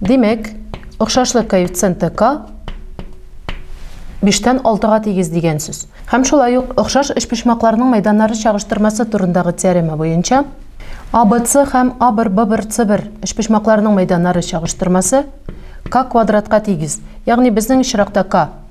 Димәк, охшашлык коэффициенты k 5-тән 6-га тигез дигән сүз. Һәм шулай ук охшаш өчпочмакларның мәйданнары чагыштырмасы турындагы теорема буенча ABC һәм A1, B1, C1 өчпочмакларның мәйданнары чагыштырмасы k квадратка тигез, ягъни безнең очракта k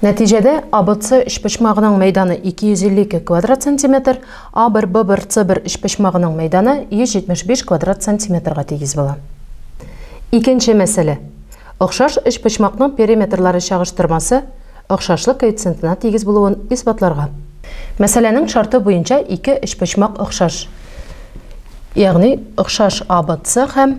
Нәтиҗәдә ABC өчпочмагының мәйданы 252 квадрат сантиметр, A1, B1, C1 өчпочмагының мәйданы 175 квадрат сантиметрга тигез була. Икенче мәсьәлә. Охшаш өчпочмакның периметрлары чагыштырмасы охшашлык коэффициентына тигез булуын исбатларга. Мәсьәләнең шарты буенча ике өчпочмак охшаш, ягъни охшаш ABC һәм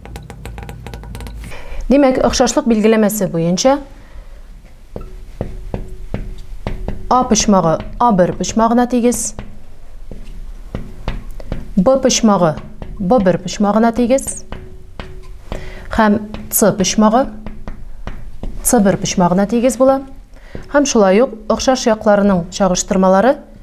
Димәк, охшашлык билгеләмәсе буенча А почмагы А1 почмагына тигез. Б почмагы Б1 почмагына тигез. Һәм С почмагы С1 почмагына тигез була. Һәм шулай ук охшаш якларының чагыштырмалары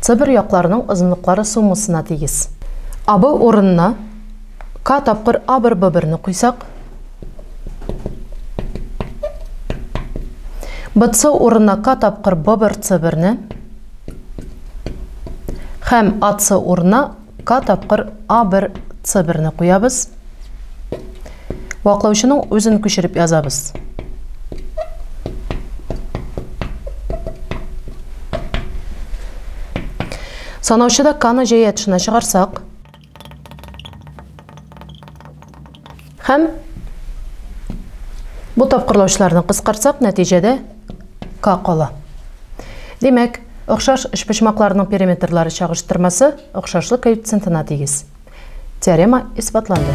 Цыбыр якларының озынлыклары суммасына тигез. Абы урынына К тапкыр А бер Б берне куйсак, БЦ урынына К тапкыр Б бер С берне һәм АЦ урынына К тапкыр А1, С1-ны куябыз. Ваклаучының үзен күчереп язабыз. Санаучыда К-ны җәя тышына чыгарсак, Һәм бу тапкырлаучыларны кыскартсак, нәтиҗәдә К кала. Димәк, охшаш өчпочмакларның периметрлары чагыштырмасы охшашлык коэффициентына тигез. Теорема исбатланды.